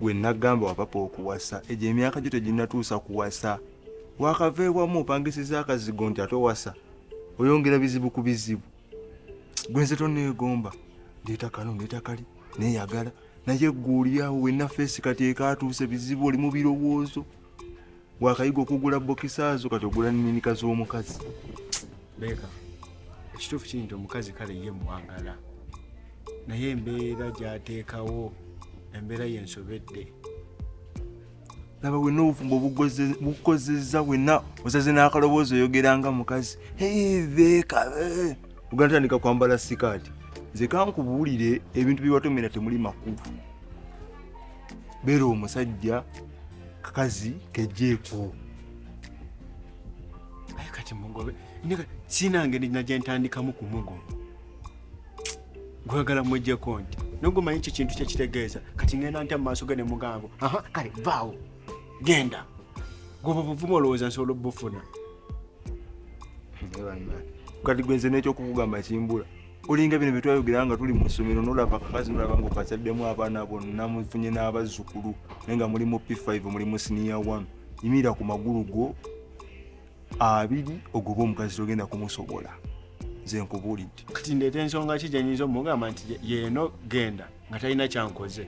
gwe nagamba wapapa okuwasa egyo emyaka gyo teginatuusa kuwasa wakava ewamu opangisiza akazigo nti ate owasa oyongera bizibu ku bizibu gwenze toneegomba ndeeta kano ndeeta kali neeyagala naye gweolyawo wenna feesi kati ekaatuuse bizibu oli mu birowoozo wakayiga okugula bokisa zo kati ogula nininika z'omukazi beeka ekituufu kiri nti omukazi kale ye mwagala naye embeera gyateekawo embeera yensobedde laba wena obufumbo bukozeza wena osaze n'akaloboozi oyogera nga mukazi beeka eh. oganatandika kwambala sikaati nze kankubuulire ebintu byewatomera temuli makulu beera omusajja kakazi kejeeko aye kati mugobe sinange najentandikamu kumugoba gwagala mujeko nti nogumanyi ekyo kintu kyekitegeeza kati ngenda ntya mumaaso ge nemugambo aha kale vaawo genda goba obuvumu olowooza nsobola obufuna kati gwenze nekyokukugamba kimbula olinga bino byetwayogera nga tuli mu ssomero nolaba kakazi nolaba nga okakyaddemu abaana bonna mufunye n'abazzukulu naye nga muli mu p5 muli mu siniya 1 yimira ku magulu go abiri ogoba omukazi togenda kumusobola nze nkubuulidde kati ndeeta ensonga ki gyenyinza omugamba nti yeeno genda nga talina kyankoze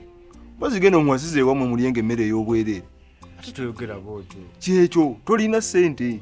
mpozi genda omuwasiza ewamwe mulyenga emmere ey'obwereere ate toyogera bwotyo kyekyo tolina ssente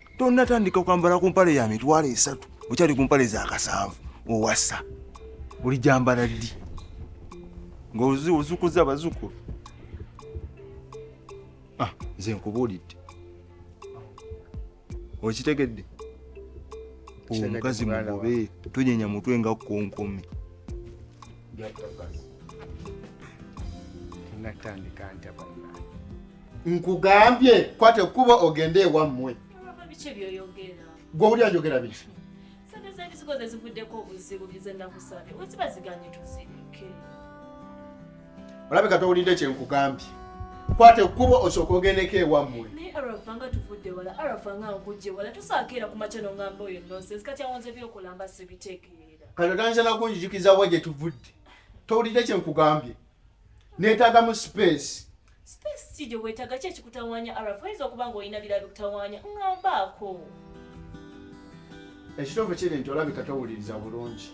tonnatandika kwambala ku mpale ya mitwalo esatu okyali ku mpale za kasanvu owasa oli gyambala ddi ngaozukuza abazukulu ah, nze nkubuulidde okitegedde omukazi mugobe tonyenya mutwe nga konkomi natandika ntya nkugambye kwata ekkubo ogende ewammwe gwe oli ayogera biki olabika towulidde kyenkugambye kwata ekkubo osooka ogendeko ewammwe kati otandisa nakunjijukiza wa gye tuvudde towulidde kyenkugambye Neetaaga mu sipeesi. Sipeesi ki gye weetaaga ki ekikutawaanya Arafa? Oyinza okuba ng'olina birala bikutawaanya. Ŋŋambaako. Ekituufu kiri nti olabika towuliriza bulungi.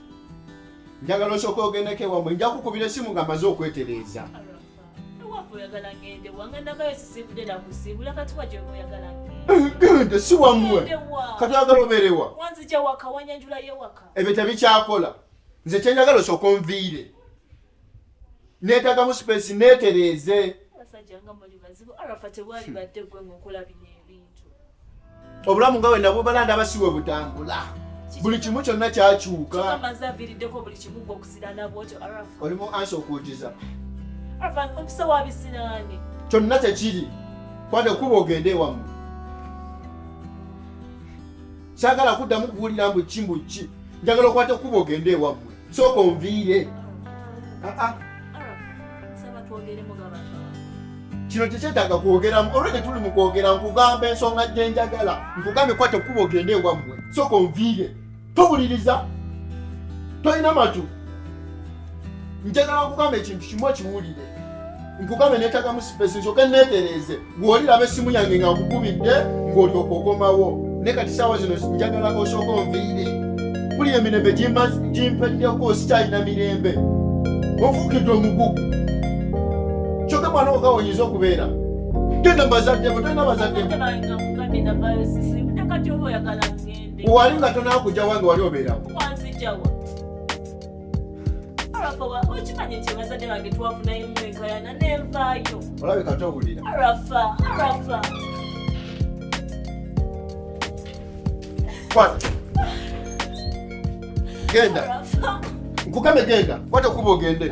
Njagala osooka ogendeko ewammwe. Nja kukubira essimu nga maze okwetereeza. Genda si wammwe. Kati oyagala obeerewa. Ebyo tebikyakola. Nze kye njagala osooka onviire. netagamu space netereeze obulamu nga wena bubala ndaba siwe butambula buli kimu kyonna kyakyuka olimu ansi okuujiza kyonna tekiri kwate kuba ogende ewamu sagala kuddamu kuwulira mbu kimbu ki njagala okwate kuba ogende ewamwe Sooka onviire. Ah, ah. kino tekyetaaga kwogeramu olwo tetuli mu kwogera nkugamba ensonga gye njagala nkugambye kwata okukuba ogende ewammwe sooka onviire towuliriza tolina matu njagala nkugamba ekintu kimu okiwulire nkugamba netagamu sipesi nsoke neetereeze bw'oliraba essimu yange nga nkukubidde ng'olyoka okomawo ne kati saawa zino njagala osooka onviire kuli emirembe gimpeddeko sikyalina mirembe ofuukidde omugugu kyoka mwana woka oyinza okubeera tena bazaddeko tena bazaddeko wali nga tonakujawa nga wali obeerawo olabika towulira genda nkukame genda kwata kuba ogende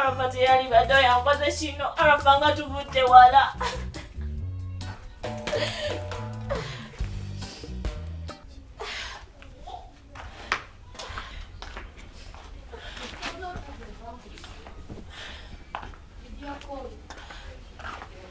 Arafa teyali bado yankoze kino Arafa nga tuvudde wala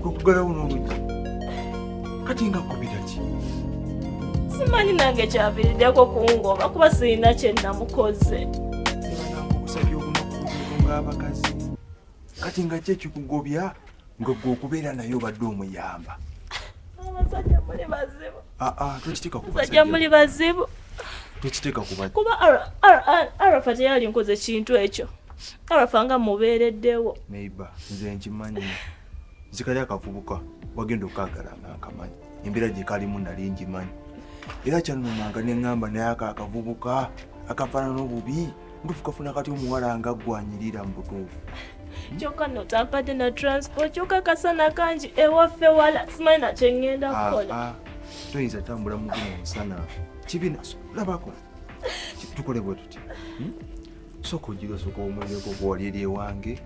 kwekugalawo n'oluggi kati nga kubira ki simanyi nange kyaviiriddeko kungoba kuba sirina kye namukoze obusabye obunaku ng'abakazi kati nga ki ekikugobya ngwe gwe okubeera naye obadde omuyamba abasajja muli bazibu ah, ah, basajja muli bazibu kuba arafa teyali nkoze kintu ekyo arafa nga mubeereddewo nze nkimanyi zikali akavubuka wagenda okukagala nga nkamanyi embeera gye kalimu nali ngimanyi era kyanumanga ne ŋŋamba naye ako akavubuka akafaanana obubi ntufu kafuna kati omuwala nga gwanyirira mubutuufu kyoka notampadde na transport kyoka kasana kangi ewaffe wala simanyi nakye ŋŋenda ah, kukola ah. toyinza tambula mu guno musana kibina labako tukole bwe tuti hmm? sooka ogira osooka omuleko gwali eri ewange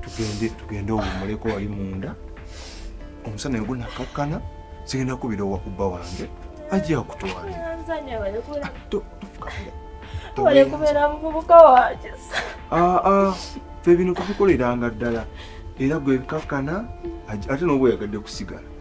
tugende tugende owummuleko wali munda omusana yogwo nakakkana sigenda kubira owa kubba wange ajja kutwalatufukaira muvubuka wange ah, ah. fe bino tubikoleranga ddala era gwe bikakkana ate noba oyagadde kusigala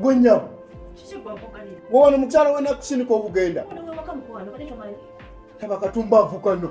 Gwenya. Wowe ni mukyala wena kusinika okugenda. Taba katumba avukano.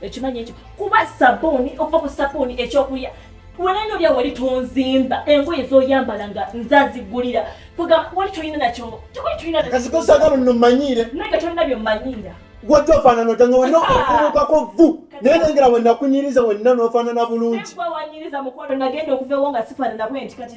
ekimanyi ekyo kuba sabuuni okuva ku sabuuni ekyokulya walaino lya wali tonzimba engoye zoyambala nga nzazigulira kuga wali tolina nakyo tewali tolina nakazikosagalo nno mmanyiire naye nga tolina byo mmanyiira wajja ofaanana otya nga wenna okubukako vvu naye nengera wennakunyiriza wenna n'ofaanana bulungi wanyiriza mukolo nagenda okuva ewo nga sifaanana bwenti kati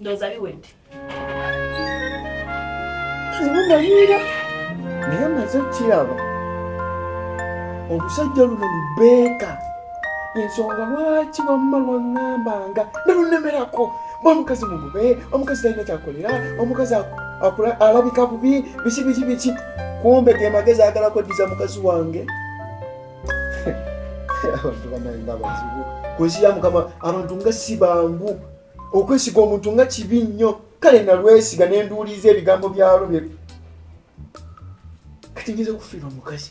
ndowooza biwedde zibumalira naye maze kiraba olusajja luno lubeeka ensonga lwaki wamma lwaŋŋambanga nalunemerako omukazi mugube omukazi talina kyakolera omukazi alabika bubi biki biki biki kumbe ge magezi agala kweddiza mukazi wange abantu banaye nga bazibu kunsi ya mukama abantu nga si bangu okwesiga omuntu nga kibi nnyo kale nalwesiga nenduuliza ebigambo byalo bye kati ngiza okufiirwa mukazi